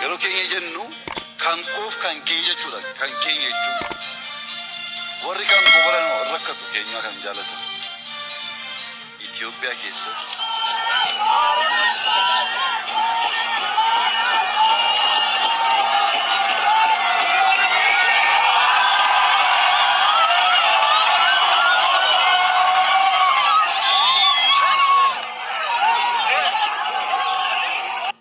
Yeroo keenya jennu kan koof kan kee jechuudha. Kan keenya jechuun warri kan koo godhan hoo hin rakkatu keenyaa kan jaalatan Itoophiyaa keessatti.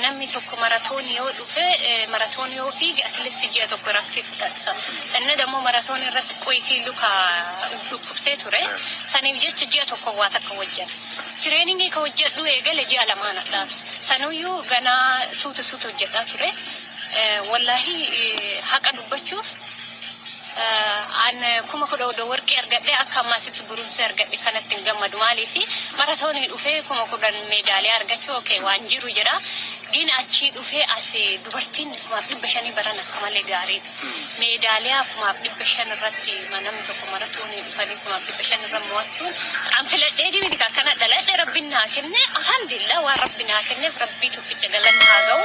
Namni tokko maratoonii yoo dhufe maratoonii yoo fiige at least ji'a tokko iraftii fudhata. Inni dammoo maratoonii irratti qoyisii luka uf dhukkubsee ture. Saniif jecha ji'a tokko waa takka hojjate. Tireeningii ka hojjadhuu eegale ji'a lamaan hadhaa. Sanuyyuu ganaa suuta suuta hojjadhaa ture. Wallaahii haqa dubbachuuf. An kuma kudha odo worqii argadhe akka ammaa sitti gurumsee argadhe kanatti hin gammadu maaliif maratoonii dhufee kuma kudhan meedaaliyaa argachuu okay waan jiru jira gin achii dhufee as dubartiin kumaaf dhibba shanii baran akka malee gaarii meedaaliyaa kumaaf dhibba shan irratti namni tokko maratoonii dhufanii kumaaf dhibba shan irra mo'achuun an filadheetii miti kan kana dhaladhe rabbiin naa kenne alhamdulillah waan rabbi naa kenneef rabbii tokkicha galanni haa ga'u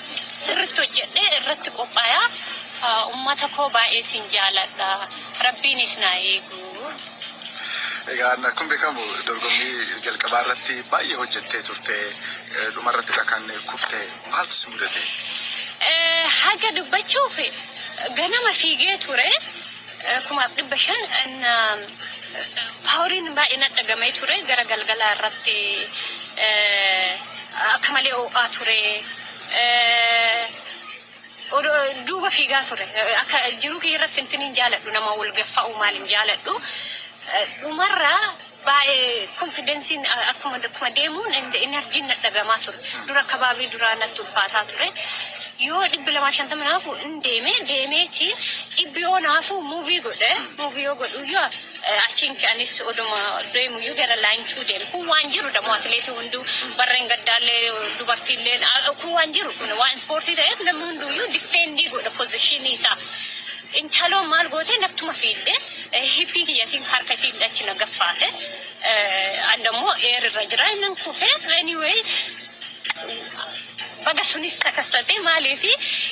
sirritti hojjedhee irratti qophaaya ummata koo baay'ee sin jaaladha rabbiin is naa eeguu. Egaa akkuma beekamu dorgommii jalqabaa irratti baay'ee hojjettee turte dhuma irrattidha kan kufte maaltu si mudate? Haga dubbachuuf ganama fiigee ture. kumaaf dhibba shan paawuriin baay'ee na dhagamee ture gara galgalaa irratti akka malee oo'aa ture duuba fiigaa ture akka jiruu kiyya irratti intiniin jaaladhu nama wal gaffa'u maaliin jaaladhu dhumarraa Baay'ee konfidensiin akkuma akkuma deemuun and enerjiin na dhagamaa ture. Dura akka baabii duraa natti ulfaataa ture. Yoo dhibbi lamaa fi shantama naafu in deeme deemeeti dhibbi yoo naafu muuvii godhe muuvii yoo godhuyyuu eh, I think anis oduma deemuyyuu gara laayintuu deeme. Kun waan jiru damo atileetii hunduu barreen gaddaallee dubartiillee ah, kun waan jiru kun waan ispoortii ta'eef namni hunduuyyuu difeendii godha pozishinii isaa. Intaloo maal gootee nattuma fiidde Hippii kiyyatiin harka isii hidhachi na gaffaate. An dammoo eer irra jira innan kufee anyway baga sunis takassate maaliif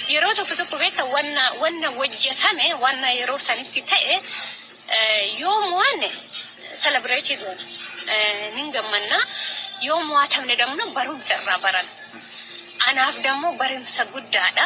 yeroo tokko tokko beekta wanna wanna hojjetame wanna yeroo sanitti ta'e yoo mo'anne celebrate goona nin gammanna yoo mo'atamne damno barumsa irraa baran anaaf dammoo barumsa guddaadha.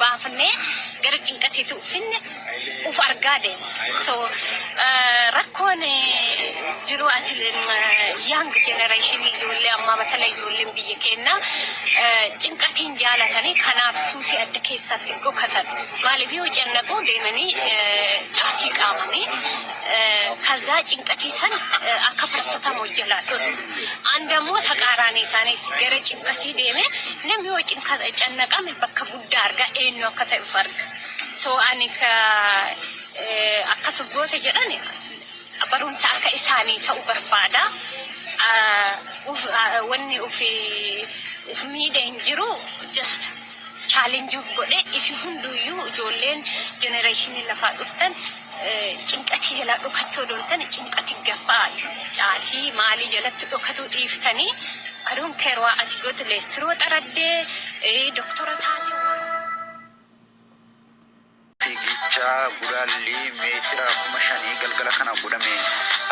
baafnee gara cinqatiitu finne uf argaa deema so rakkoon jiru ati young generation ijoollee ammaa batala ijoolleen biyya keenna cinqatiin jaalatanii kanaaf suusii adda keessaatti dhokatan maaliif yoo cannaquu deemanii caatii qaamanii kazaa cinqatii san akka farsatamu jalaa dhosu andammoo taqaaraanii isaanii gara cinqatii deeme namni yoo cannaqame bakka guddaa arga eenyu akka ta'uf arga so ani ka akkas goote jedhan barumsa akka isaanii ta'u barbaada wanni uf uf miidhe hin jiru just challenge uf godhe isin hunduuyyuu ijoolleen generation lafaa dhuftan Cinqatii jalaa dhokachuu odoo hin tane cinqati gafaa caatii maalii jalatti dhokatuu dhiiftanii I don't care waa ati gotu leestiroo xaraddee eh, doktora taate waa Fiigicha gulaallii meetira kuma shanii galgala kana godhame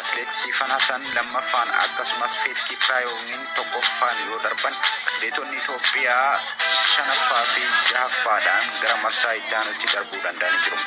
Atileet Siifan Hasan lammaffaan akkasumas Feet Kiipiraayoomiin tokkoffaan yoo darban atileetonni Itoophiyaa shanaffaa fi jahaffaadhaan gara marsaa itti aanutti darbuu danda'anii jiru.